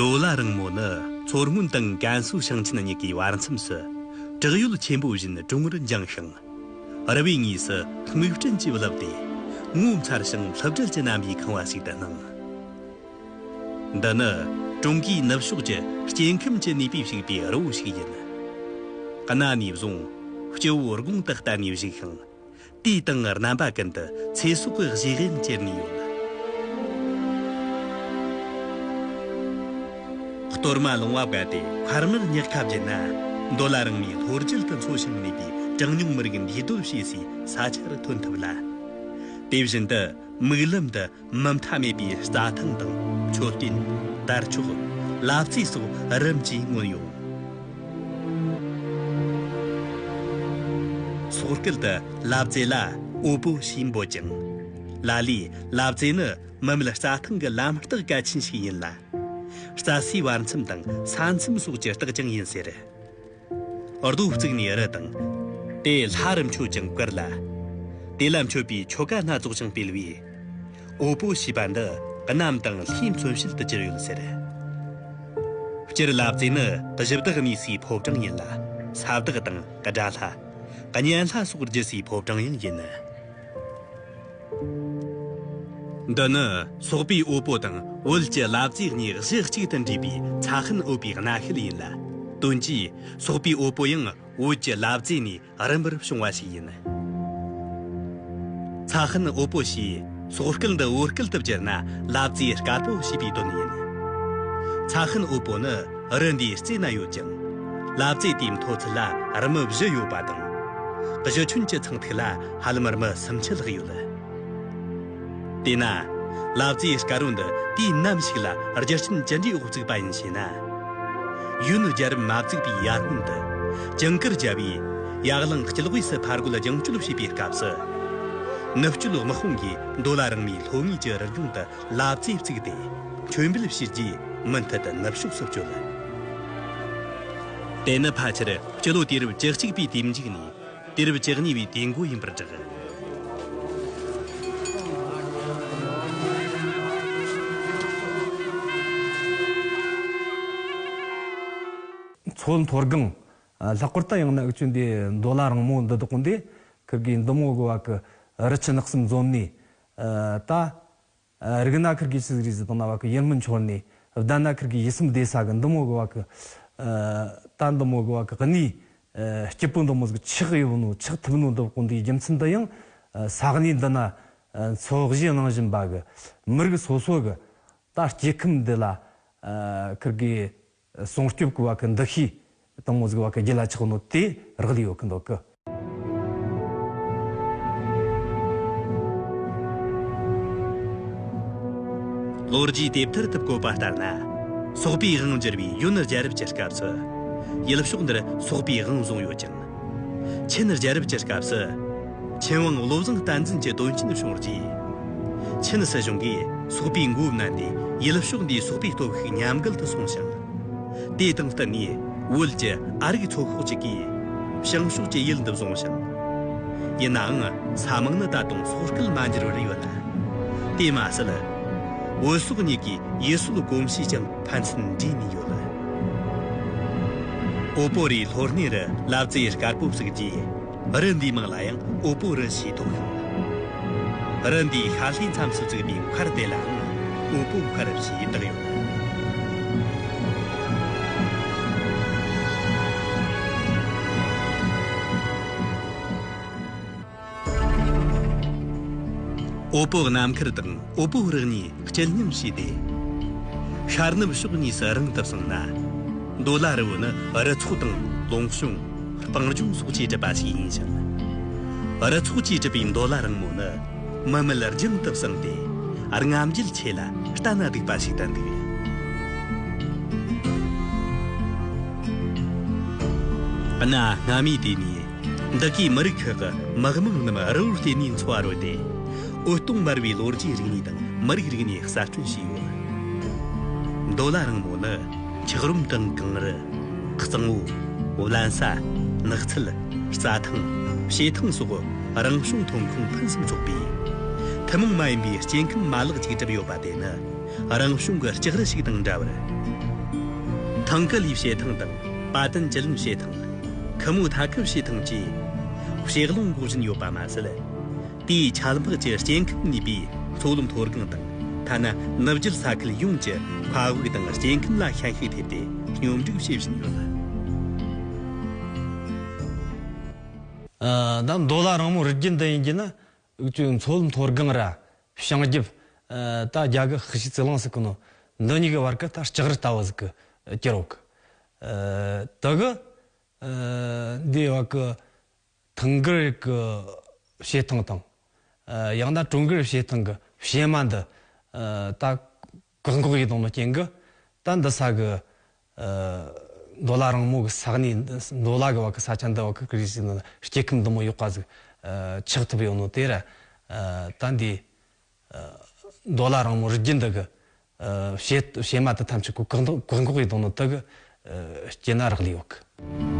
མདོ་ལ་རིང་མོ་ནི་མཚོ་སྔོན་དང་ཀན་སུའུ་ཞིང་ཆེན་གཉིས་ཀའི་བར་མཚམས་སུ། བྲག་ཡོལ་ཆེན་པོ་བཞིན་གྲོང་བར་འགྱིང་ཞིང། རི་བོའི་ངོས་སུ་སྨུག་སྤྲིན་གྱིས་བརླབས་ཏེ། ངོ་མཚར་ཞིང་ལྷུབ་གྲལ་གྱི་རྣམ་པའི་ཁང་བ་ཞིག་ཏུ་སྣང། འདི་ནི་ཀྲུང་གོའི་ནུབ་ཕྱོགས་ཀྱི་སྐྱེ་ཁམས་ཀྱི་ནུས་པས་བྱུགས་པའི་རི་བོ་ཞིག་ཡིན། གནའ་ནས་བཟུང་སྐྱེ་བོ་རྒོང་དུ་བསྟར་ནས་བཞུགས་ཤིང། དུས་དང་རྣམ་པ་ཀུན་ཏུ་ཚེ་སྲོག་གི་གཞི་རིམ་གྱེར་ནས་ཡོད། གཏོར་མ་ལོང་བ་བཀལ་ཏེ་འཕར་མར་བསྙགས་ཁ་བརྒྱུད་ན། མདོ་ལ་རང་མོས་ལྷོ་རྒྱུད་དུ་འཚོ་ཞིང་གནས་པའི་གྲངས་ཉུང་མི་རིགས་འདུས་སྡོད་བྱེད་སའི་ས་ཆར་ཐོན་ཐུབ་ལ། དེ་བཞིན་དུ་དམིགས་ལམ་དུ་མུ་མཐའ་མེད་པའི་རྩྭ་ཐང་དང་མཆོད་རྟེན། དར་ལྕོག། ལབ་རྩེ་སོགས་རིམ་གྱིས་མངོན་ཡོང། སོག་སྐད་དུ་ལབ་རྩེ་ལ་ཨོ་པོ་ཞེས་འབོད་ཅིང། ལ་ལས་ལབ་རྩེ་ནི་མུ་མེད་རྩྭ་ཐང་གི་ལམ་རྟགས་གལ་ཆེན་ཞིག་ཡིན་ལ། རྩྭ་སའི་བར་མཚམས་དང་ས་མཚམས་སོགས་ཀྱི་རྟགས་ཀྱང་ཡིན་ཟེར། རྡོ་བརྩིགས་ནས་རི་དང། དེ་ལྷ་རུ་མཆོད་ཅིང་བཀུར་ལ། དེ་ལ་མཆོད་པའི་ཆོ་ག་སྣ་ཚོགས་ཀྱང་སྤེལ་བས། དབུལ་པོ་ཞེས་པ་འདི་གནམ་དང་ལྷའི་མཚོན་བྱེད་དུ་གྱུར་ཡོད་ཟེར། སྤྱིར་ལབ་རྩེ་ནི་གཞི་བདག་གནས་སའི་ཕོ་བྲང་ཡིན་ལ། ས་བདག་དང་དགྲ་ལྷ། གཉན་ལྷ་སོགས་རྒྱུ་སའི་ཕོ་བྲང་ཡང་ཡིན། འདི་ནི་སོག་པའི་དབུལ་པོ་དང་བོད་ཀྱི་གླ་རྩིས་གཉིས་གཞི་གཅིག་ཏུ་འདྲེས་པའི་ཚ་ཤིང་དབུལ་པའི་གནའ་ཤུལ་ཡིན་ལ། དོན་གྱིས་སོག་པའི་དབུལ་པོ་ཡང་བོད་ཀྱི་གླ་རྩིས་ནས་རིམ་པར་བྱུང་བ་ཞིག་ཡིན། ཚ་ཤིང་དབུལ་པོ་ཞེས་སོག་སྐད་འདི་བོད་སྐད་དུ་བསྒྱུར་ན་གླ་རྩིས་དཀར་པོ་ཞེས་པའི་དོན་ཡིན། ཚ་ཤིང་དབུལ་པོ་ནི་རི་འདིའི་རྩེ་ན་ཡོད་ཅིང། གླ་རྩིས་དེའི་མཐོ་ཚད་ལ་རིམ་བཞི་ཡོད་པ་དང། གཞི་ཁྱོན་གྱི་ཚངས་ཐིག་ལ། ཧ་ལམ་རྨི་སུམ་ཆི་ལྷག་ཡོད། དེས་ན། ལབ་རྩེའི་སྐ་རུང་འདི་དུས་ནམ་ཞིག་ལ་རྒྱུ་རྐྱེན་ཇི་འདྲའི་འོག་བཙུགས་པ་ཡིན་ཞེ་ན། གཞོན་ནུ་རྒྱལ་རབས་མ་བཙུགས་པའི་ཡར་སྔོན་དུ། ཇིང་ཀིར་རྒྱལ་པོས་ཡར་གླིང་སྐྱིད་དབུས་སུ་ཕར་རྒོལ་རྒྱང་སྐྱོད་བྱེད་པའི་སྐབས་སུ། ནུབ་སྐྱོད་དམག་དཔུང་གིས་མདོ་ལ་རིང་མོའི་ལྷོ་ངོས་ཀྱི་རི་ལྗོངས་དུ་ལབ་རྩེ་བཙུགས་ཏེ་མཆོད་འབུལ་བྱས་རྗེས་མུ་མཐུད་དུ་ནུབ་ཕྱོགས་སུ་བསྐྱོད། དེ་ནི་ཕལ་ཆེར་སྤྱི་ལོ་དུས་རབས་བཅུ་གཅིག་པའི་དུས་མཇུག་ནས་དུས་རབས་བཅུ་གཉིས་པའི་དུས་མགོ་ཡིན་པར་བསྒྲགས། མཚོ་མཐོ་སྒང། ལྷག་པར་དུ་ཡང་ན་ཨུག་ཆུ་འདི་མདོ་ལ་རིང་མོ་འདི་དག་གོ་འདི་གི་འདི་མོ་དགོ་བ་གི་རི་ཆུ་ནགས་གསུམ་འཛོམས་ནས། ད། རིག་སྣ་ཁིར་གིས་ཆི་ཟི་རི་ཟི་དང་ན་བ་ཀི་ཡེར་མི་འཆོར་ནས་བདལ་ན་ཁིར་གིས་ཡི་སིམ་བདེ་ས་གི་འདུ་མོ་གི་བ་ཀི་ད་འདུ་མོ་གི་བ་ཀི་གནས་སྐྱིད་པོའི་འདུ་མོ་ཟིག་ཆིག་ཡིབ་ནོ་ཆིག་ཐིབ་ནོ་འདུ་ཀོ་འདིའི་རྒྱུ་མཚན་དུ་ཡང་ས་གནས་འདི་ན་འཚོ་གཞེས་གནང་བཞིན་པ་གི་མི་རིགས་སོ་སོ་གི་ད་སྐྱེ་ཁམས་འདི་ལ་ཁིར་གིས་སྲུང་སྐྱོབ་ཀྱི་བ་གི་འདུ་ཤེས་དང་མོ་གཟུགས་བ་གི་རྒྱུ་ལ་ཆགས་ནོ་དེས་རག་ལས་ཡོད་ཀྱི་འདུག་གི། ལོ་རྒྱུས་དེབ་ཐེར་དུ་བཀོད་པ་ལྟར་ན། སོག་པའི་དབང་བསྒྱུར་བའི་ཡོན་རྒྱལ་རབས་ཀྱི་སྐབས་སུ། ཡུལ་ཕྱོགས་འདིར་སོག་པའི་དབང་བཟུང་ཡོད་ཅིང། ཆིན་རྒྱལ་རབས་ཀྱི་སྐབས་སུ། ཆིན་ཝང་བློ་བཟང་བསྟན་འཛིན་གྱི་དོན་རྐྱེན་བྱུང་རྗེས། ཆིན་སྲིད་གཞུང་གིས་སོག་པའི་མགོ་བསྣན་ཏེ་ཡུལ་ཕྱོགས་འདིའི་སོག་པའི་སྟོབས་ཤུགས་ཉམས་རྒུད་དུ་སོང་ཞིང། དེ་དང་བསྟུན་ནས་བོད་ཀྱི་ཨ་རིག་ཚོགས་ཤོག་ཅིག་གིས། བྱང་ཕྱོགས་ཀྱི་ཡུལ་འདི་བཟུང་ཞིང། ཡིན་ནའང་ས་དམག་ནི་ད་དུང་སོག་སྐད་མ་འགྱུར་བར་ཡོད་ལ། དེས་མ་ཟད། བོད་སོག་གཉིས་ཀའི་ཡུལ་སྲོལ་གོམས་གཤིས་ཀྱང་ཕན་ཚུན་འདྲེས་ནས་ཡོད། ཨོ་པོ་རིའི་ལྷོ་སྣེ་རུ་ལབ་རྩེ་ཡི་དཀར་པོ་བསྲེགས་རྗེས། རི་འདིའི་མིང་ལ་ཡང་ཨོ་པོ་རི་ཞེས་ཐོགས་ཤིང། རི་འདིའི་ཤར་ལྷོའི་མཚམས་སུ་བརྩིགས་པའི་མཁར་དེ་ལའང་ཨོ་པོ་མཁར་ཞེས་བཏགས་ཡོད། ཨོ་པོ་གནམ་མཁར་དང་ཨོ་པོ་རི་གཉིས་སྐྱིལ་མཉམ་བྱས་ཏེ། ཤར་ནུབ་ཕྱོགས་གཉིས་སུ་རིང་དུ་སོང་ན། མདོ་ལ་རི་བོ་ནི་རི་ཚོགས་དང་ལུང་གཤོང། སྤང་ལྗོངས་སོགས་ཀྱིས་གྲུབ་པ་ཞིག་ཡིན་ཞིང། རི་ཚོགས་ཀྱིས་གྲུབ་པའི་མདོ་ལ་རིང་མོ་ནི་མི་མེད་རྒྱང་དུ་བསྲིངས་ཏེ་རྔམ་བརྗིད་ཆེ་ལ་ལྟ་ན་སྡུག་པ་ཞིག་ཏུ་འདུག། གནའ་སྔ་མོའི་དུས་ནས་བདག་གིས་མི་རིགས་ཁག་གི་དམག་དམངས་རྣམས་རི་བོར་བརྟེན་ནས་འཚོ་བ་རོལ་ཏེ། འུད་སྟོང་དམར་བའི་ལོ་རྒྱུས་རིག་གནས་དང་མི་རིགས་རིག་གནས་གསར་སྐྲུན་བྱས་ཡོད། མདོ་ལ་རིང་མོ་ནི་འཁྱགས་རོམ་དང་གངས་རི། གཙང་བོ། བརླན་ས། ནགས་ཚལ། རྩྭ་ཐང། བྱེ་ཐང་སོགས་རང་བྱུང་ཐོན་ཁུངས་ཕུན་སུམ་ཚོགས་པས། ཐུན་མོང་མ་ཡིན་པའི་སྐྱེ་ཁམས་མ་ལག་ཅིག་གྲུབ་ཡོད་པ་དེ་ནི་རང་བྱུང་གི་ལྕགས་རི་ཞིག་དང་འདྲ་བར། ཐང་ག་ལིའི་བྱེ་ཐང་དང་པ་ཏན་ཅི་ལིན་བྱེ་ཐང། ཁི་མོ་ཐ་ཁི་ཞེས་ཐང་ཅིའི་ཞེས་གླིང་འགོག་བཞིན་ཡོད་པ་མ་ཟད། དེའི་ཆ་ལག་གི་སྐྱེ་ཁམས་ནུས་པའི་མཚོ་ལམ་མཐོ་སྒང་དང་ཐ་ན་ནུབ་རྒྱུད་ས་ཁུལ་ཡོངས་ཀྱི་མཁའ་དབུགས་དང་སྐྱེ་ཁམས་ལ་ཤན་ཤུགས་ཐེབས་ཏེ་སྙོམས་སྒྲིག་བྱེད་བཞིན་ཡོད། མདོ་ལ་རང་མོས་རི་རྒྱུད་འདི་ཡིན་གྱི་ན་དབུས་དུས་མཚོ་མཐོ་སྒང་ར་བྱང་རྒྱུད། རྟ་རྒྱ་གི་ཧི་ཤི་ཙི་ལང་སི་ཀི་ནོ། འདི་གཉིས་ཀྱི་བར་གྱི་རྟ་ལྕགས་རི་རྟ་བོ་ཟིག་གི་སྐྱི་རོ་ཀི། དུ་གི། འདིའི་བར་གྱི་ཐང་གི་རིགས་ཀྱི་བྱེ་ཐང་དང། ཡང་ན་གྲོང་གི་རིགས་བྱེ་ཐང་གི་བྱེ་མ་འདི། རྟ་བཀག་འགོག་ཡིག་ཐོག་ནང་རྐྱེན་གྱི། ད་འདི་ས་གི། མདོ་ལ་རང་མོ་གི་ས་གནས་མདོ་ལ་གི་བར་གི་ས་ཆ་འདི་བར་གི་རིགས་ཞིག་ནང་ལ་སྐྱེ་ཁམས་དུ་མ་ཡོག་པ་ཟིག། ཆགས་ཐུབ་ཡོག་ནོ་དེ་ར། ད་འདི། མདོ་ལ་རང་མོ་རིགས་རྒྱུད་འདི་གི། བྱེ་མ་དི་ཐམས་ཅད་ཀུ་བཀག་འགོག་ཡིག་ཐོག་ནང་དི་གི། སྐྱེ་ན་རག་ལས་འོག་གི།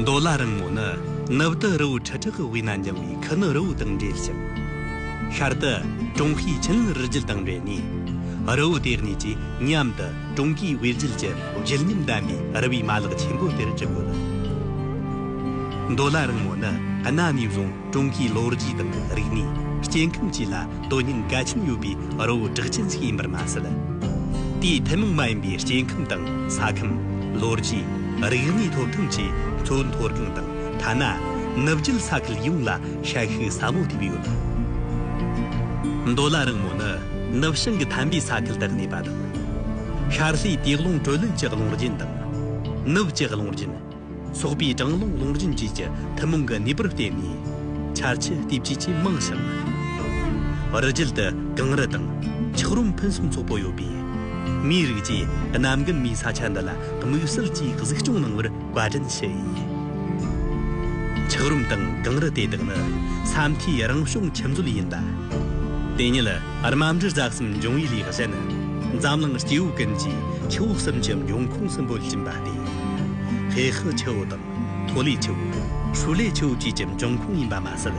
མདོ་ལ་རིང་མོ་ནི་ནུབ་ཏུ་རི་བོའི་ཁྲི་ཕྲག་གི་དབུས་ན་འགྱིང་བའི་ཁུ་ནུ་རི་བོ་དང་འབྲེལ་ཞིང། ཤར་དུ་ཀྲུང་ཧྭའི་ཆིན་ལིན་རི་རྒྱུད་དང་འབྲེལ་ནས། རི་བོའི་ལྟེ་གནས་ཀྱི་མཉམ་དུ། ཀྲུང་གོའི་དབུས་རྒྱུད་ཀྱི་བརྗིད་ཉམས་ལྡན་པའི་རི་བའི་མ་ལག་ཆེན་པོ་དེར་བརྩི་དགོས་ལ། མདོ་ལ་རིང་མོ་ནི་གནའ་ནས་བཟུང་ཀྲུང་གོའི་ལོ་རྒྱུས་དང་རིག་གནས་སྐྱེ་ཁམས་བཅས་ལ་དོན་སྙིང་གལ་ཆེན་ཡོད་པའི་རི་བོ་གྲགས་ཅན་ཞིག་ཡིན་པར་མ་ཟད། དེའི་ཐུན་མོང་མ་ཡིན་པའི་སྐྱེ་ཁམས་དང་ས་ཁམས། ལོ་རྒྱུས། རིག་གནས་ཐོབ་ཐང་བཅས་མཚོའི་མཐོ་སྒང་དང་ཐ་ན་ནུབ་རྒྱུད་ས་ཁུལ་ཡོངས་ལ་ཧྲལ་ཤུལ་ཟབ་མོ་ཐེབས་ཡོད་ལ། མདོ་ལ་རིང་མོ་ནི་ནུབ་བྱང་གི་ཐཱན་པའི་ས་ཁུལ་དུ་གནས་པ་དང། ཤར་ལྷོའི་སྟེས་རླུང་དྲོད་ལེན་གྱི་རླུང་རྒྱུན་དང། ནུབ་ཀྱི་རླུང་རྒྱུན། སོགས་པའི་གྲང་རླུང་རླུང་རྒྱུན་བཅས་ཀྱི་ཐུན་མོང་གི་ནུས་པར་བརྟེན་ནས། ཆར་ཆུ་ལྟེབ་ཆུས་ཆེས་མང་ཞིང། རི་རྒྱུད་དུ་གངས་རི་དང། འཁྱགས་རོམ་ཕུན་སུམ་ཚོགས་པོ་ཡོད་པས། མིའི་རིགས་ཀྱིས་གནའ་མགོན་མིའི་ས་ཆ་འདི་ལ་དམིགས་བསལ་གྱིས་གཟིགས་སྐྱོང་གནང་བར་བཀའ་དྲིན་ཞུ་ཡི། འཁྱགས་རོམ་དང་གངས་རི་དེ་དག་ནི་ས་མཐོའི་རང་བྱུང་ཁྱིམ་རྩོད་ཡིན་ལ། དེ་ཉིད། རྨ་འབྲི་རྫ་གསུམ་འབྱུང་བའི་ལེགས་བཤད་ནི། འཛམ་གླིང་སྐྱེ་བོའི་ཀུན་གྱིས་ཆུ་བོ་གསུམ་གྱི་འབྱུང་ཁུངས་སུ་འབོད་ཀྱིན་པ་སྟེ། བྷེ་ཧི་ཆུ་བོ་དང་ཐོ་ལེ་ཆུ་བོ། ཧྲུའུ་ལེ་ཆུ་བོ་བཅས་ཀྱི་འབྱུང་ཁུངས་ཡིན་པ་མ་ཟད།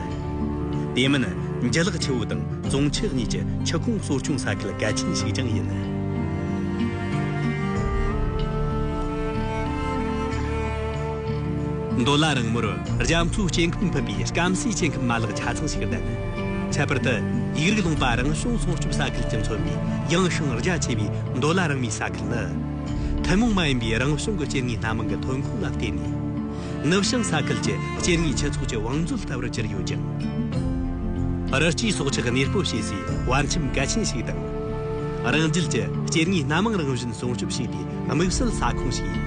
དེ་མིན་འཇིལ་ལག་ཆུ་བོ་དང་ཙོང་ཆི་གཉིས་ཀྱི་ཆུ་ཁུངས་གསོ་སྐྱོང་ས་ཁུལ་གལ་ཆེན་ཞིག་ཀྱང་ཡིན། མདོ་ལ་རིང་མོར་རྒྱ་མཚོའི་སྐྱེ་ཁམས་ཕུད་པའི་སྐམ་སའི་སྐྱེ་ཁམས་མ་ལག་ཆ་ཚང་ཞིག་ལྡན། ཁྱད་པར་དུ་ཡིག་རིགས་ལུང་པ་རང་བྱུང་སྲུང་སྐྱོབ་ས་ཁུལ་གྱི་མཚོན་པའི་ཡངས་ཤིང་རྒྱ་ཆེ་བའི་མདོ་ལ་རང་མོས་ས་ཁུལ་ནི། ཐུན་མོང་མ་ཡིན་པའི་རང་བྱུང་གི་སྐྱེ་དངོས་སྣ་མང་གི་ཐོན་ཁུངས་ལ་བརྟེན་ནས། ནུབ་བྱང་ས་ཁུལ་གྱི་སྐྱེ་དངོས་སྤྱི་ཚོགས་ཀྱི་བང་མཛོད་ལྟ་བུར་གྱུར་ཡོད་ཅིང། རི་སྐྱེས་སྲོག་ཆགས་གནས་སྤོ་བྱེད་སའི་བར་ཁྱིམ་གལ་ཆེན་ཞིག་དང། རང་རྒྱལ་གྱི་སྐྱེ་དངོས་སྣ་མང་རང་བཞིན་སྲུང་སྐྱོབ་བྱེད་པའི་དམིགས་བསལ་ས་ཁོངས་ཤིག་ཡིན།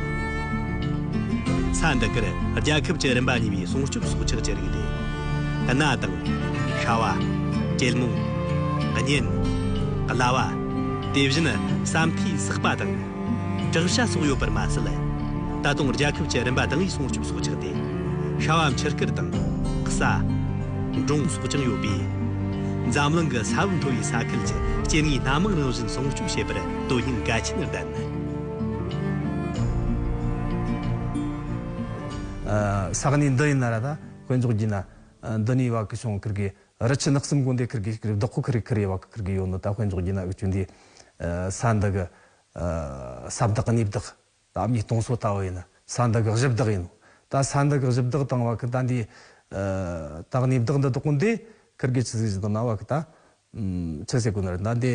ས་འདི་གར་རྒྱལ་ཁབ་ཀྱི་རིམ་པ་གཉིས་པའི་སྲུང་སྐྱོབ་སྲོག་ཆགས་ཀྱི་རིགས་ཏེ། གནའ་དང། ཤྭ་བ། གྱེལ་མོ། གཉན། གླ་བ། དེ་བཞིན་བསམ་མཐའི་སག་པ་དང། བྲག་ཤ་སོགས་ཡོད་པར་མ་ཟད། ད་དུང་རྒྱལ་ཁབ་ཀྱི་རིམ་པ་དང་པའི་སྲུང་སྐྱོབ་སྲོག་ཆགས་ཏེ། ཤྭ་བ་འཁྱིལ་དཀར་དང། གསའ། འབྲོང་སོགས་ཀྱང་ཡོད་པས། འཛམ་གླིང་གི་ས་བབ་མཐོ་བའི་ས་ཁུལ་གྱི་སྐྱེ་དངོས་སྣ་མང་རང་བཞིན་སྲུང་སྐྱོབ་བྱེད་པར་དུ་ཡིན་དགའ་ཆེན་བདག་ནི། ས་ག་ནས་འདི་ཡིན་ན་ར་ད་དཔོན་ཚོགས་རྒྱུས་ན་འདི་ནས་བ་ཀི་ཤོང་ཁིར་གི་རི་ཆུ་ནགས་གསུམ་དགོན་སྡེ་ཁིར་གི་ཤིག་རི་བདག་ཁོ་ཁིར་གི་ཁིར་ཡེ་བ་ཀི་ཁིར་གི་ཡོད་ནོ་ད་དཔོན་ཚོགས་རྒྱུས་ན་འུ་ཅུ་འདི་ས་འདི་གི་ས་བདག་གནས་བདག་ད་ཨམ་གཉིས་སྟོང་སོ་ད་བ་ཡིན་ན་ས་འདི་གི་གཞི་བདག་ཡིན་ནོ་ད་ས་འདི་གི་གཞི་བདག་དང་བ་ཀི་ད་འདི་ད་གནས་བདག་འདི་དགོན་སྡེ་ཁིར་གི་ཆུ་ཟེ་ཟི་དང་ན་བ་ཀི་ད་ཆུ་ཟེ་དགོན་ར་ད་འདི།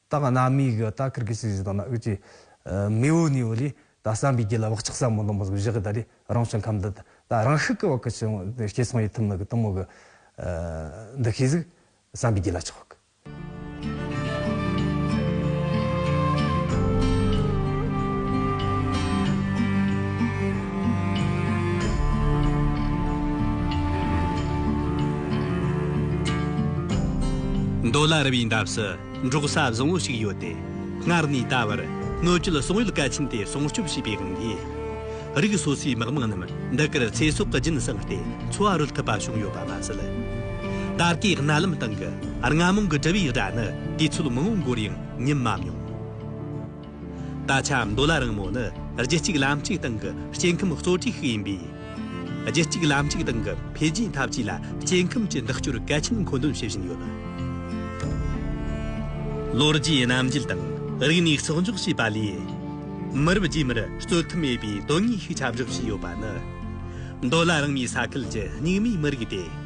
ད་ག་ནག་མི་གི་ད་ཁིར་གི་སི་ཟི་དང་ན་ཨུད་ཀྱི་མི་ཨུ་ནི་ཨུ་ལི་ད་བསམ་པའི་རྒྱུ་ལ་བག་ཆགས་ཟབ་མོ་ལོན་པོ་ཟིག་བཞི་གི་ད་རི་རང་བྱུང་ཁམས་འདི་ད་རང་ཤུགས་གི་བག་གི་ཆུ་སྐྱེས་ཚང་ཡི་ཐུབ་ནི་གི་གཏུམ་མོ་གི་འདི་ཤེས་ཟིག་བསམ་པའི་རྒྱུ་ལ་ཆོག་གི། མདོ་ལ་རི་བའི་འདབས་སུ། འབྲོག་ས་བཟང་བོ་ཞིག་ཡོད་དེ། སྔར་ནས་ད་བར་སྣོད་བཅུད་སོག་ཡུལ་གལ་ཆེན་དེ་སྲུང་སྐྱོབ་བྱས་པའི་དབང་གིས། རིགས་སོ་སོའི་དམག་དམངས་རྣམས་འདི་གར་ཚེ་སྲོག་གི་སྦྱིན་བསྲངས་ཏེ་འཚོ་བ་རོལ་ཐུབ་པ་བྱུང་ཡོད་པ་མ་ཟད། ད་ལྟའི་གནའ་ལམ་སྟེང་གི་རྔ་མོང་གི་གྲུ་བའི་སྒྲ་ནི་དུས་ཚོད་མང་བོ་འགོར་ཡང་ཉིན་མ་མྱོང། ད་ཆ་མདོ་ལ་རིང་མོ་ནི་རྒྱུད་གཅིག་ལམ་གཅིག་སྟེང་གི་སྐྱེ་ཁམས་གཙོ་གྲས་ཤིག་ཡིན་པས། རྒྱུད་གཅིག་ལམ་གཅིག་སྟེང་གི་འཕེལ་རྒྱས་འཐབ་ཇུས་ལ་སྐྱེ་ཁམས་ཀྱི་འདེགས་སྐྱོར་གལ་ཆེན་མཁོ་འདོན་བྱེད་བཞིན་ཡོད། ལོ་རྒྱུས་རྣམ་འགྱུར་དང་རིག་གནས་གསོག་འཇོག་བྱས་པ་ལས། མི་རབས་རྗེས་མར་རྩོད་ཐབས་མེད་པའི་དོན་དངོས་ཤིག་ཁྱབ་བསྒྲགས་བྱས་ཡོད་པ་ནི། མདོ་ལ་རིང་མོའི་ས་ཁུལ་གྱི་རྙིང་མའི་མི་རིགས་ཏེ།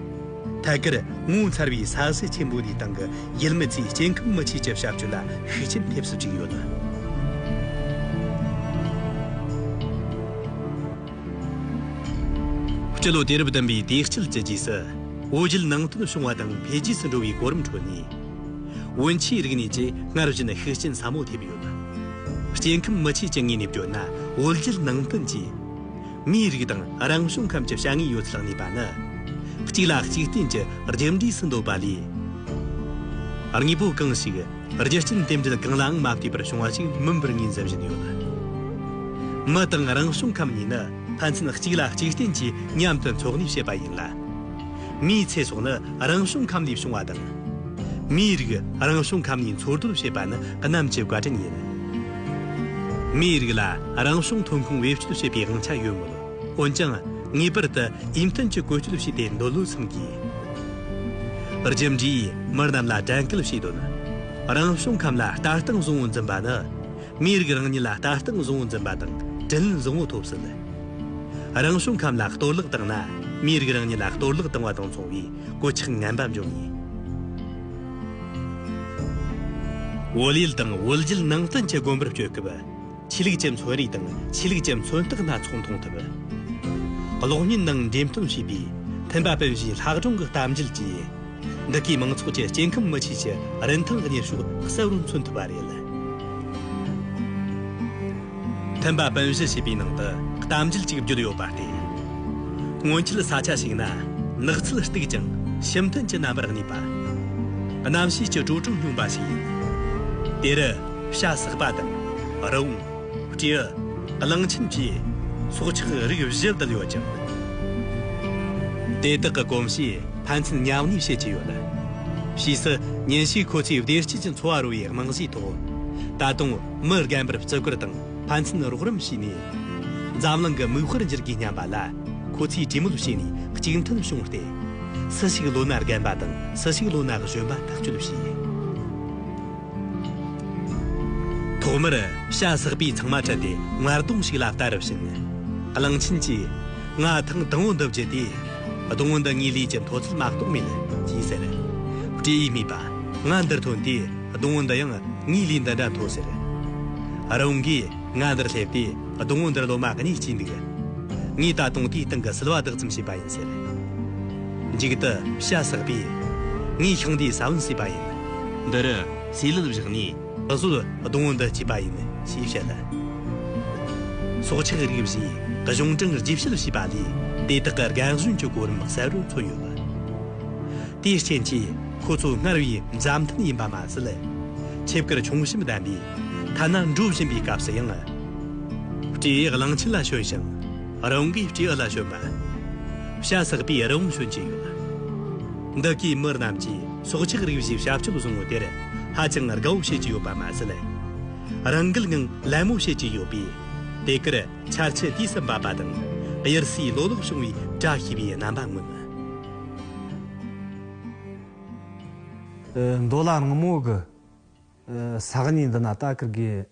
ཐད་ཀར་ངོ་མཚར་བའི་ས་གསེར་ཆེན་པོ་དེའི་སྟེང་གི་ཡུལ་མི་ཚོའི་སྐྱེ་ཁམས་མི་ཆོས་ཀྱི་བྱ་སྤྱོད་ལ་ཤུགས་རྐྱེན་ཐེབས་སུ་བཅུག་ཡོད། སྤྱི་ལོ་དུས་རབས་བདུན་པའི་དུས་དཀྱིལ་གྱི་རྗེས་སུ། བོད་རྒྱུད་ནང་བསྟན་བྱུང་བ་དང་འཕེལ་རྒྱས་སུ་འགྲོ་བའི་གོ་རིམ་ཁྲོད་ནས། བོན་ཆོས་རིག་གནས་ཀྱིས་སྔར་བཞིན་ཤུགས་རྐྱེན་ཟབ་མོ་ཐེབས་ཡོད། སྐྱེ་ཁམས་མི་ཆོས་ཀྱི་ངོས་ནས་བརྗོད་ན་བོད་རྒྱུད་ནང་བསྟན་གྱིས། མིའི་རིགས་དང་རང་བྱུང་ཁམས་ཀྱི་བྱ་དངོས་ཡོད་ཚད་གནས་པ་ནི། གཅིག་ལ་གཅིག་རྟེན་གྱི་རྒྱུ་འབྲས་སུ་འདོད་པ་ལས། དངོས་པོ་གང་ཞིག་རྒྱུ་རྐྱེན་རྟེན་འབྲེལ་གང་ལའང་མ་ལྟོས་པར་བྱུང་བ་ཞིག་མིན་པར་ངོས་འཛིན་བཞིན་ཡོད། མི་དང་རང་བྱུང་ཁམས་གཉིས་ནི་ཕན་ཚུན་གཅིག་ལ་གཅིག་རྟེན་གྱིས་མཉམ་དུ་འཚོ་གནས་བྱེད་པ་ཡིན་ལ། མིའི་ཚེ་སྲོག་ནི་རང་བྱུང་ཁམས་ལས་བྱུང་བ་དང། མིའི་རིགས་རང་བྱུང་ཁམས་གཉིས་འཚོ་སྡོད་བྱེད་པ་ནི་གནམ་གྱི་བཀའ་དྲིན་ཡིན། མིའི་རིགས་ལ་རང་བྱུང་ཐོན་ཁུངས་བེད་སྤྱོད་བྱེད་པའི་དབང་ཆ་ཡོད་མོད། འོན་ཀྱང་ངེས་པར་དུ་དབྱི་མཐུན་གྱི་བཀོལ་སྤྱོད་བྱས་པའི་འདོད་བློ་འཚོང་དགོས། རྒྱུ་འབྲས་མི་རྣམས་ལ་དྲན་སྐུལ་བྱེད་དོན། རང་བྱུང་ཁམས་ལ་ལྟ་སྟངས་བཟང་བོ་འཛིན་པ་ནི། མིའི་རིགས་རང་ཉིད་ལ་ལྟ་སྟངས་བཟང་བོ་འཛིན་པ་དང་དྲིན་བཟང་བོ་ཐོབ་སྲིད། རང་བྱུང་ཁམས་ལ་གཏོར་བརླག་བཏང་ན་མིའི་རིགས་རང་ཉིད་ལ་གཏོར་བརླག་བཏང་བ་དང་མཚུངས་པའི་གོད་ཆག་ངན་པ་འབྱུང་ངེས། དབུལ་ཡུལ་དང་དབུལ་རྒྱུད་ནང་བསྟན་གྱི་དགོན་པར་སྐྱོད་སྐབས་ཆོས་ལུགས་ཀྱི་མཚོན་རིས་དང་ཆོས་ལུགས་ཀྱི་མཚོན་རྟགས་སྣ་ཚོགས་མཐོང་ཐུབ། གློག་བརྙན་ནང་འགྲེམས་སྟོན་བྱས་པའི་མཐུན་པ་དཔལ་བཞིའི་ལྷག་སྒྲུང་གི་གཏམ་རྒྱུད་ཀྱིས་འདི་གའི་མང་ཚོགས་ཀྱི་སྐྱེ་ཁམས་མི་ཆོས་ཀྱི་རིན་ཐང་གི་གནས་ཤུགས་གསལ་བོར་མཚོན་ཐུབ་པ་རེད། མཐུན་པ་སྤུན་བཞི་ཞེས་པའི་ནང་དུ་གཏམ་རྒྱུད་གཅིག་བརྗོད་ཡོད་པ་སྟེ། སྔོན་ཆད་ས་ཆ་ཞིག་ན་ནགས་ཚལ་སྟུག་ཅིང་ཤིང་ཐུན་གྱི་རྣམ་པར་གནས་པ། རྣམ་ཤེས་ཀྱི་དྲོད་གྲུབ་སྙོམས་པ་ཞིག་ཡིན། དེ་རུ་བྱ་ཟག་པ་དང། རི་བོང། སྤྲེའུ། གླང་ཆེན་བཅས་སྲོག་ཆགས་རིགས་བཞི་བསྡུས་ཡོད་ཅིང། དེ་དག་གི་གོམས་གཤིས་ཕན་ཚུན་མཉམ་གནས་བྱེད་ཀྱི་ཡོད། ཕྱིས་སུ་ཉིན་ཞིག་ཁོ་ཚོས་བདེ་སྐྱིད་ཀྱི་འཚོ་བ་རོལ་བའི་རྨང་གཞིའི་ཐོག་ད་དུང། མི་རྒན་པར་བརྩི་བཀུར་དང་ཕན་ཚུན་རོགས་རམ་བྱས་ནས། འཛམ་གླིང་གི་མིག་དཔེར་འགྱུར་དགོས་སྙམ་པ་ལ། ཁོ་ཚོས་གྲོས་མོལ་བྱས་ནས་གཅིག་མཐུན་བྱུང་སྟེ། སུ་ཞིག་ལོ་ན་རྒན་པ་དང་སུ་ཞིག་ལོ་ན་གཞོན་པ་ཐག་གཅོད་བྱས། ཐོག་མར་བྱ་ཟག་པས་ཚང་མ་ཁྲིད་དེ་སྔར་དོང་ཞིག་ལ་བལྟ་རུ་ཕྱིན། གླང་ཆེན་གྱིས། ང་ཐང་དང་བོ་འདི་བརྒྱུད་དེ། སྡོང་བོ་འདི་ངའི་ལུས་ཀྱི་མཐོ་ཚད་མ་གཏོགས་མེད། ཅེས་ཟེར། སྤྲེའུས་སྨྲས་པ། ང་འདིར་ཐོན་དུས། སྡོང་བོ་འདི་ཡང་ངའི་ལུས་འདི་འདྲ་མཐོ་ཟེར། རང་གིས་ང་འདིར་སླེབས་དུས་སྡོང་བོ་འདིར་ལོ་མ་གཉིས་སྐྱེས་འདུག། ངས་ད་དུང་དེའི་སྟེང་གི་སིལ་བ་བདག་ཙམ་བྱས་པ་ཡིན་ཟེར། མཇུག་ཏུ་ཤ་ཟེགས་པས། ངས་ཤིང་འདིའི་ས་བོན་བསྲེས་པ་ཡིན། འདིར་ཟས་ལུད་བཞག་ནས། ད་གཟོད་སྡོང་བོ་འདི་སྐྱེས་པ་ཡིན། ཞེས་བཤད། སྲོག་ཆགས་རིགས་བཞིའི་གཞུང་དྲང་རྗེས་བཤད་བྱས་པ་ལས་དེ་དག་གི་རྒན་གཞོན་གྱི་གོ་རིམ་གསལ་བོར་མཚོན་ཡོད། དེའི་རྐྱེན་གྱིས། ཁོ་ཚོ་སྔར་བས་མཛའ་མཐུན་ཡིན་པ་མ་ཟད། ཆེབ་ཀར་ཆུང་གཤིབ་ལྡན་པས། ཐ་ན་འགྲོ་བཞིན་པའི་སྐབས་སུ་ཡང། སྤྲེའུ་ཡི་གླང་ཆེན་ལ་ཞོན་ཞིང། རང་གིས་སྤྲེའུ་ལ་ཞོན་པ། ཤ་བསགས་པའི་རི་བོང་ཞོན་གྱི་ཡོད། འདི་གའི་མི་རྣམས་ཀྱིས་སྲོག་ཆགས་རིགས་བཞིའི་བྱ་སྤྱོད་བཟང་བོ་དེར་ཧ་ཅང་དགའ་བོ་བྱེད་ཀྱི་ཡོད་པ་མ་ཟད། རང་འགུལ་ངང་ལད་མོ་བྱེད་ཀྱི་ཡོད་པས། དེ་གར་འཆར་ཆུ་དུས་སུ་འབབ་པ་དང། དབྱར་སའི་ལོ་ལོག་བྱུང་བའི་བཀྲ་ཤིས་པའི་རྣམ་པ་མངོན། མདོ་ལ་རང་མོས་ཀྱི་ས་གནས་འདི་ན་ད་ཀིར་གིས་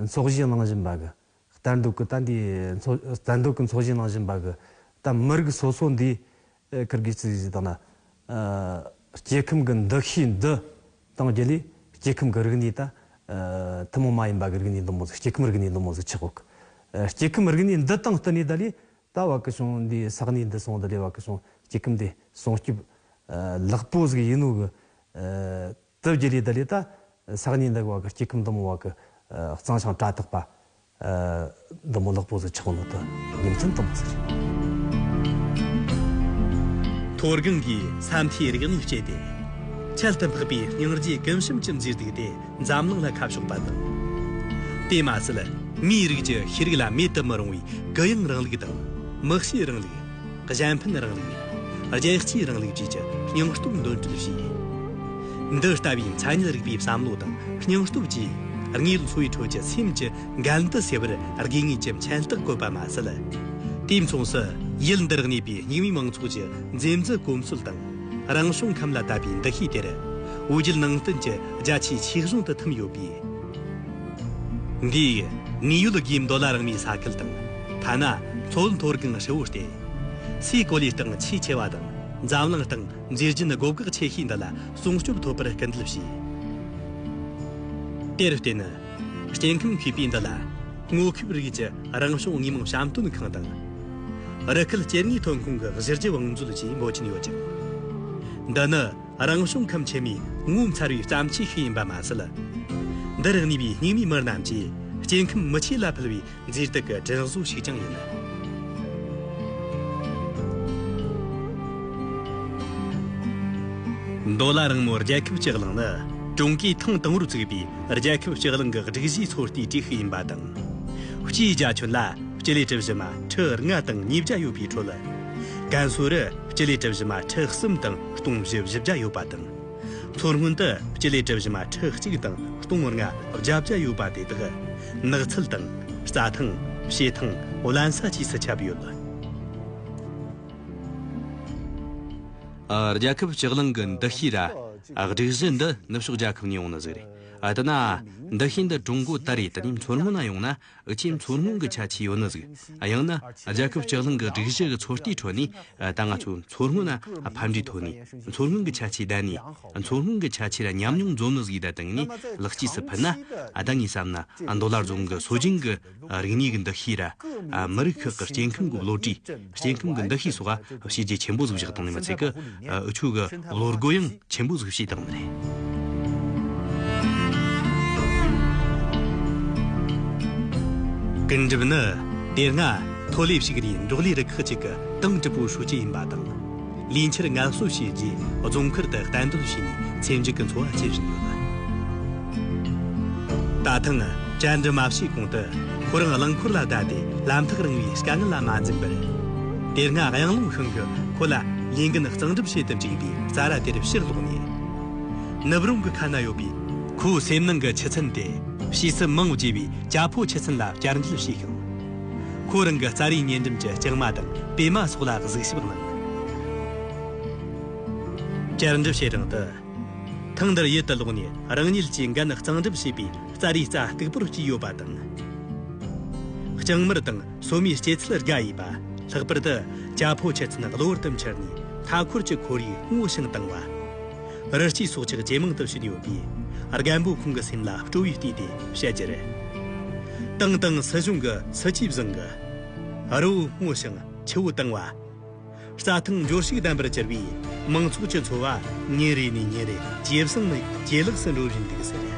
འཚོགས་གཞིས་གནང་བཞིན་པ་གི་ལྟ་འདོད་ཀི་ད་འདིས་ལྟ་འདོད་ཀི་འཚོགས་གཞིས་གནང་བཞིན་པ་གི་ད་མི་རིགས་སོ་སོ་འདིས་ཀིར་གིས་ཙི་ཟི་དང་ན་སྐྱེ་ཁམས་ཀི་འདུ་ཤེས་འདི་གཏང་རྒྱུ་ལས་སྐྱེ་ཁམས་ཀི་རིག་གནས་ད་ཐུན་མོང་མ་ཡིན་པ་གི་རིག་གནས་འདི་མོ་ཟིག་སྐྱེ་ཁམས་རིག་གནས་འདི་མོ་ཟིག་ཆགས་གི་སྐྱེ་ཁམས་རིག་གནས་འདི་དང་བསྟུན་ནས་ད་ལས་ད་བ་ཀི་ཤོང་འདི་ས་གནས་འདི་སོང་དུ་རེ་བ་ཀི་ཤོང་སྐྱི་ཀིམ་དེ་སོང་སྐྱིབས། ལག་པོ་ཟིག་ཡིན་ནོ་གི། དི་བརྒྱད་ལས་དི་ལས་ད་ས་གནས་འདི་གི་བ་ཀི་སྐྱི་ཀིམ་དུ་མོ་བ་ཀི་གཙང་ཤང་བཀྲ་ཐག་པ། འདི་མོ་ལག་པོ་ཟིག་ཆག་ནོ་དི་ཉིན་མཚན་དུ་མོ་ཟིག་རེད། མཐོ་སྒང་གི་ས་མཐའི་རིག་གནས་སྤྱད་དེ། ཁྱད་དུ་འཕགས་པའི་སྙིང་རྗེ་ཀིམ་ཤིམ་ཀིམ་ཟིག་བསྡིགས་ཏེ་འཛམ་གླིང་ལྷ་ཁ་ཕྱོགས་པ་དང། དེས་མ་ཟད་མིའི་རིགས་ཀྱི་ཤེས་རིག་ལ་མེད་དུ་མི་རུང་བའི་གུ་ཡངས་རིང་ལུགས་དང། དམིགས་བྱའི་རིང་ལུགས། གཞན་ཕན་རིང་ལུགས། རྒྱལ་སྤྱིའི་རིང་ལུགས་བཅས་ཀྱི་སྙིང་སྟོབས་འདོན་སྤྲོད་བྱས། འདི་ལྟ་བུའི་མཚན་ཉིད་རིག་པའི་བསམ་བློ་དང་སྙིང་སྟོབས་ཀྱིས་དངོས་ལུགས་འཚོ་བའི་ཁྲོད་ཀྱི་སེམས་ཀྱི་འགལ་འདུ་སེལ་བར་དགོས་ངེས་ཀྱི་མཁྱེན་རྟགས་བཀོད་པ་མ་ཟད། དུས་མཚུངས་སུ་ཡུལ་འདིར་གནས་པའི་རྙིང་མའི་མང་ཚོགས་ཀྱི་འཛེམ་བཟོད་གོམས་སྲོལ་དང། རང་བྱུང་ཁམས་ལ་བཏབ་པའི་འདུ་ཤེས་དེར། དབུ་རྒྱུད་ནང་བསྟན་གྱི་རྒྱ་ཆེའི་ཆོས་གཞུང་དུ་འཐིམས་ཡོད་པས། འདིས་དངོས་ཡོད་དགེ་འདུན་ལ་རང་མོས་ས་ཁུལ་དང། ཐ་ན་མཚོ་མཐོ་སྒང་ཧྲིལ་བོ་སྟེ། སའི་གོ་ལའི་སྟེང་ཆེས་ཆེ་བ་དང་འཛམ་གླིང་སྟེང་མཛེས་རྒྱན་དགོད་དགག་ཆེ་ཤོས་འདི་ལ་སྲུང་སྐྱོབ་ཐོབ་པར་སྐུལ་འདེད་བྱས། དེར་བརྟེན། སྐྱེ་ཁམས་ཤེས་དཔེ་འདི་ལ་སྔོ་ཁེབས་རིགས་ཀྱི་རང་བྱུང་དངོས་མང་བཤམས་སྟོན་ཁང་དང། རི་ཁུལ་སྐྱེ་དངོས་ཐོན་ཁུངས་ཀྱི་གཞི་རྒྱུ་བང་མཛོད་བཅས་འབོད་ཀྱིན་ཡོད་ཅིང། འདི་ནི་རང་བྱུང་ཁམས་ཆེ་མོའི་ངོ་མཚར་བའི་བརྩམས་ཆོས་ཤིག་ཡིན་པ་མ་ཟད། འདིར་གནས་པའི་སྙིགས་མའི་མི་རྣམས་ཀྱིས་སྐྱེ་ཁམས་མི་ཆོས་ལ་ཕུལ་བའི་མཛེས་སྡུག་གི་སྒྲིག་བཟོ་ཞིག་ཀྱང་ཡིན། མདོ་ལ་རིང་མོའི་རྒྱལ་ཁབ་སྤྱི་གླིང་ནི་ཀྲུང་གོས་ཐེངས་དང་པོར་བཙུགས་པའི་རྒྱལ་ཁབ་སྤྱི་གླིང་གི་སྒྲིག་གཞིའི་ཚོད་ལྟའི་གྲས་ཤིག་ཡིན་པ་དང། སྤྱིའི་རྒྱ་ཁྱོན་ལ་སྤྱི་ལེ་གྲུ་བཞི་མ་ཁྲི་ལྔ་དང་ཉིས་བརྒྱ་ཡོད་པའི་ཁྲོད། ཀན་སུའུ་རུ་སྤྱི་ལེ་གྲུ་བཞི་མ་ཁྲི་གསུམ་དང་སྟོང་བཞི་བཞི་བརྒྱ་ཡོད་པ་དང། མཚོ་སྔོན་དུ་སྤྱི་ལེ་གྲུ་བཞི་མ་ཁྲི་གཅིག་དང་སྟོང་ངོར་ལྔ་བརྒྱ་བརྒྱ་ཡོད་པ་དེ་དག་ནགས་ཚལ་དང། རྩྭ་ཐང། བྱེ་ཐང། བརླན་ས་བཅས་སུ་ཁྱབ་ཡོད། རྒྱལ་ཁབ་ལྕགས་གླིང་གི་འདུ་ཤེས་ར་སྒྲིག་གཞི་འདི་ནུབ་ཕྱོགས་རྒྱལ་ཁབ་ནས་ཡོང་ནི་ཟིག་རེད། ཨ་ཏི་ན། འདུ་ཤེས་འདི་ཀྲུང་གོ་ད་རེས་དེ་ནས་མཚོ་སྔོན་ན་ཡོང་ན་ཨུ་ཆེན་མཚོ་སྔོན་གྱི་ཆ་ཆེའི་ཡོ་ནི་ཟིག་ཡང་ན་རྒྱལ་ཁབ་སྤྱི་གླིང་གི་སྒྲིག་གཞི་གི་ཚོད་ལྟའི་ཁྲོད་ནས་ད་ང་ཚོས་མཚོ་སྔོན་ལ་ཕམ་འབྲས་ཐོན་ནས་མཚོ་སྔོན་གྱི་ཆ་ཆེ་བསྡད་ནས་མཚོ་སྔོན་གྱི་ཆ་ཆེ་ལ་ཉམས་མྱོང་འཛོམས་ནི་ཟིག་ད་དེང་ནས་ལག་སྐྱེས་སུ་ཕུལ་ན་ད་ངས་བསམ་ན་མདོ་ལ་རྫོང་གི་སྲོལ་རྒྱུན་གྱི་རིག་གནས་ཀྱི་འདུ་ཤེས་ར་མི་རིགས་ཁག་གི་སྐྱེ་ཁམས་ཀྱི་བློ་གྲོས། སྐྱེ་ཁམས་ཀྱི་འདུ་ཤེས་སོགས་ལ་བྱས་རྗེས་ཆེན་པོ་གཟུགས་གཞག་བཏང་ནས་མི་ཚེ་གི་འུ་ཆོས་ཀྱི་བློར་རྒོལ་ཡང་ཆེན་པོ་གཟུགས་བྱས་བཏང་བ་རེད། ཀུན་སྒྲིབ་ནི་དེ་སྔ་མཐོ་ལས་ཞིག་རེའི་འབྲོག་ལས་རུ་ཁག་ཅིག་གི་ཏང་ཀྲི་པུའུ་ཧྲུའུ་ཅི་ཡིན་པ་དང། ལུས་འཁྱེར་ངལ་གསོ་བྱས་རྗེས་རྫོང་མཁར་དུ་གཏན་སྡོད་བྱས་ནས་ཚེ་འཇིག་གི་འཚོ་བ་སྐྱེལ་བཞིན་ཡོད་པ། ད་ཐེངས་བཅར་འདྲི་མ་བྱས་གོང་དུ་ཁོ་རང་རླངས་འཁོར་ལ་བསྡད་དེ་ལམ་ཐག་རིང་བའི་དཀའ་ངལ་ལ་མ་འཛེམས་པར། དེ་སྔ་གཡང་ལུང་ཤང་གིས་ཁོ་ལ་ལས་འགན་གཙང་སྒྲུབ་བྱེད་དུ་བཅུག་པའི་རྩྭ་ར་དེར་ཕྱིར་ལོག་ནས། ནུབ་རང་གི་ཁ་ན་ཡོད་པའི་ཁོའི་སེམས་ནང་གི་ཆུ་ཚན་དེ་ཕྱིས་སུ་མང་བརྒྱུད་པའི་རྒྱ་ཕོ་ཆུ་ཚན་ལ་བསྐྱར་འབྱེད་བྱས་ཤིང། ཁོ་རང་གི་རྩ་རིའི་ཉེ་འགྲམ་གྱི་རྐྱང་མ་དང་པད་མ་སོགས་ལ་གཟིགས་ཞིབ་གནང། བསྐྱར་འགྲུབ་བྱེད་སྟངས་དུ། ཐེངས་འདིར་ཡུལ་དུ་ལོག་ནས་རང་ཉིད་ཀྱི་འགན་གཙང་སྒྲུབ་བྱེད་པའི་རྩ་རིའི་རྩ་སྟུག་པོར་སྐྱེས་ཡོད་པ་དང། རྐྱང་མར་དང་སོ་མའི་སྐྱེ་ཚུལ་དགའ་ཡས་པ། ལྷག་པར་དུ་རྒྱ་ཕོ་ཁྱི་ཚན་གློ་བུར་དུ་འཁྱེར་ནས་མཐའ་འཁོར་གྱི་ཁོར་ཡུག་སྔོ་ཞིང་དྭངས་བ། རི་སྐྱེས་སྲོག་ཆགས་ཇེ་མང་དུ་ཕྱིན་ཡོད་པས། རྒན་པོ་ཁོང་གི་སེམས་ལ་སྤྲོ་བས་བསྟུན་ཏེ་བཤད་རྒྱུ་རེད། ཏང་དང་སྲིད་གཞུང་གི་སྲིད་ཇུས་བཟང་གི། རི་བོ་སྔོ་ཞིང་ཆུ་བོ་དྭངས་བ། རྩྭ་ཐང་འབྱོར་ཕྱུག་ལྡན་པར་གྱུར་པས་མང་ཚོགས་ཀྱི་འཚོ་བ་ཉིན་རེ་ནས་ཉིན་རེ་ཇེ་བཟང་ནས་ཇེ་ལེགས་སུ་འགྲོ་བཞིན་འདུག་ཟེར།